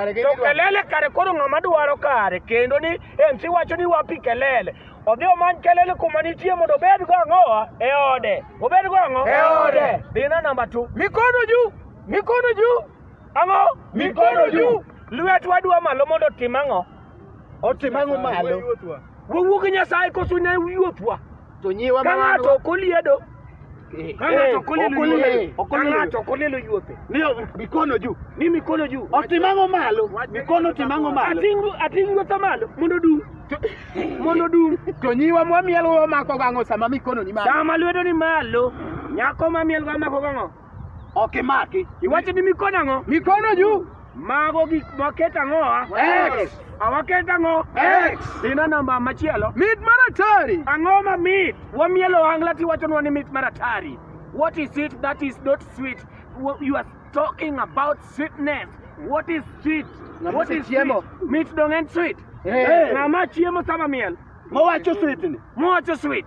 To kelele kare koro ng'ama dwaro kare kendo ni MC wacho ni wapi kelele. Odhi omany kelele kuma nitie mondo obed go ang'owa e ode. Obed go ang'o? E ode. Dina namba 2. Mikono juu. Mikono juu. Ang'o? Mikono juu. Lwet wadwa malo mondo otim ang'o? Otim ang'o malo? Wawuo gi Nyasaye koso ne yuothwa. To nyiwa ma ng'ato ok oliedo. Kang'ato kolelo yuope. Mikono juu. Ni mikono juu. Otimang'o malo. Mikono timang'o malo. Ating' yuotha malo mondo dum. Mondo dum. To nyiwa mwamielo wamako gang'o sama mikono ni malo. Sama lwedo ni malo. Nyako mamielo wamako gang'o. Ok imaki. Iwacho ni mikono ang'o? Mikono juu. Mago gik maket ang'o? X. Awaket ang'o? X. Dina namba machielo. Mit mar atari. Ang'o ma mit? Wamielo wangla tiwachonwa ni mit mar atari. What is it that is not sweet? You are talking about sweetness. What is sweet? What is sweet? Mit dong en sweet. Ng'ama chiemo sama miel. Mowacho sweet ni. Mowacho sweet.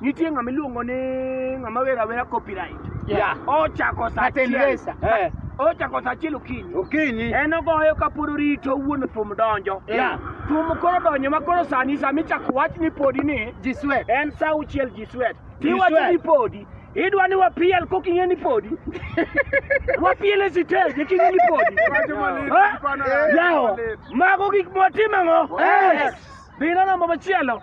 Nitie ng'ama iluongo ni ng'ama wera wera copyright. Yeah. Ochako saa Martin achiel. Lesa. Eh, Ochako saa achiel okinyi. okinyi. En ogoyo ka pod orito wuon thum donjo. Yeah. Thum koro donjo ma koro sani sama ichako wach ni podi ni Ji sweat. en saa auchiel ji swet. Ji Tiwacho swet. ni podi. Idwa ni wapiel kok ing'e ni podi. Wapiel e siteji king'e ni podi. Eh? Yawo. Mago gik motimo ang'o? Yes. Dhi neno namba machielo.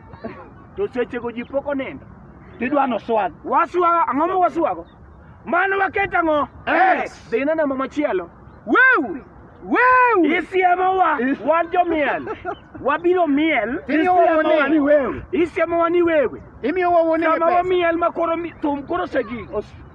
To sechego ji pok onindo. Tidwa noswag. Waswago ang'o ma waswago? Mano waket ang'o? Yes. Dhi ineno mama machielo. Weu! Weu! Isiemowa wan jomiel. Wabiro miel. Isiemowa ni wewe. Isiemowa ni wewe. Imiyo wawone pesa. Sama wamiel ma koro thum koro osegik.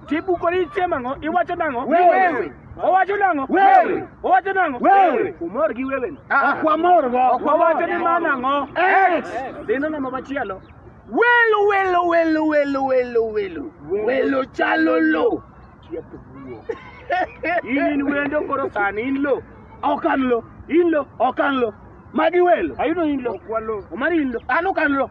Tibuko ni isiemo ang'o? Iwacho nang'o? Wewe. Owacho nang'o? Wewe. Owacho nang'o? Wewe. Umor gi wewe. Ah, ok wamor go. Ok wawacho ni ma nang'o? Ex. Dhi neno ma machielo. Welo welo welo welo welo welo. Welo chalo lo. In in wendo koro sani in lo. Ok an lo. In lo. Ok an lo. Magi welo. Ayudo in lo. Omari in lo. An ok an lo.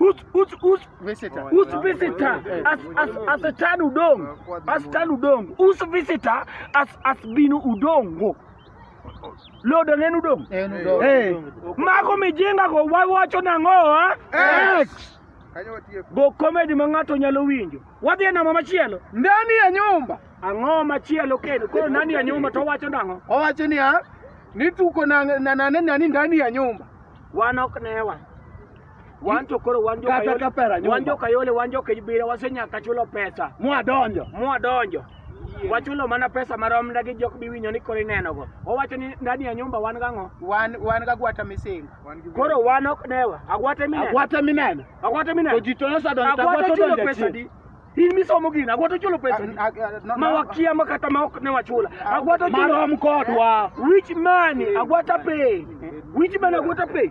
Us, us, us, visitor. Us visitor as as as a tan udong. As tan udong. Us visitor as as binu udongo. Lodo nenu udong. Eh. Mako mijenga go wawacho nango ha? Eh? X. Go comedy ma ng'ato nyalo winjo. Wadhi e namba machielo. Ndani ya nyumba. Ang'o machielo kendo? Koro ndani ya nyumba to wacho nango? Owacho ni ha? Nituko na na nani ndani ya nyumba. Wanok newa. Wan to koro wan joka Kata ka pera yole, nyumba. wan joka yole, wan joka ibira, wasenyaka chulo pesa. mwadonjo Mwadonjo. Wachulo mana pesa marom ndagi jok biwinyo ni koro inenogo. Owacho ni ndani ya nyumba wan gang'o? wan wan ga gwata misinga Koro wan ok newa. Agwate mineno. agwata mineno Agwate to mineno. ji to nosadonjo to Agwate agwata chulo odonjo pesa di. chien In misomo gini, agwate chulo pesa di. Ag- ag- no- Ma no- wakia ma kata ma ok ne wachula. Agwate chulo. marom kodwa Which man? Agwata pay. Which man agwata pay?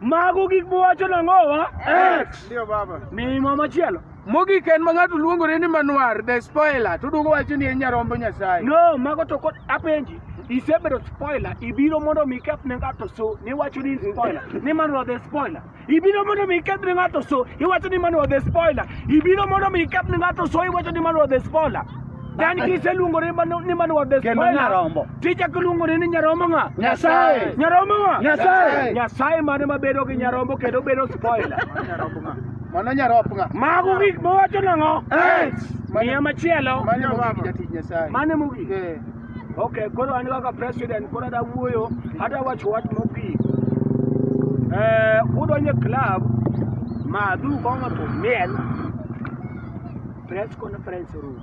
Mago gik mowacho nang'owa. X. Ndio baba. Mimo machielo. Mogik en ma ng'ato luongore ni Manuar the spoiler to duogo wacho ni en nyarombo Nyasaye. No, mago to kod apenji. Isebedo spoiler, ibiro mondo mi iketh ne ng'ato so, niwacho ni spoiler, ni Manuar the spoiler. Ibiro mondo mi iketh ne ng'ato so, iwacho ni Manuar the spoiler. Ibiro mondo mi iketh ne ng'ato so, iwacho ni Manuar the spoiler. Dan kiseluongore ni Manuar the spoiler. Kendo nyarombo. Tija kiluongo ni nyarombo ng'a? Nyasaye. Nyarombo ng'a? Nyasaye. Nyasaye mane mabedo gi nyarombo kendo bedo spoiler. Mano nyarop ng'a? Mago gik mowacho nang'o? Miya machielo. Mano mogik jatich Nyasaye. Mane mogik? Eh. Okay, koro an kaka president koro ada wuoyo, ada wacho wach mogik. Eh, udonje club madhu kong'o to miel press conference room.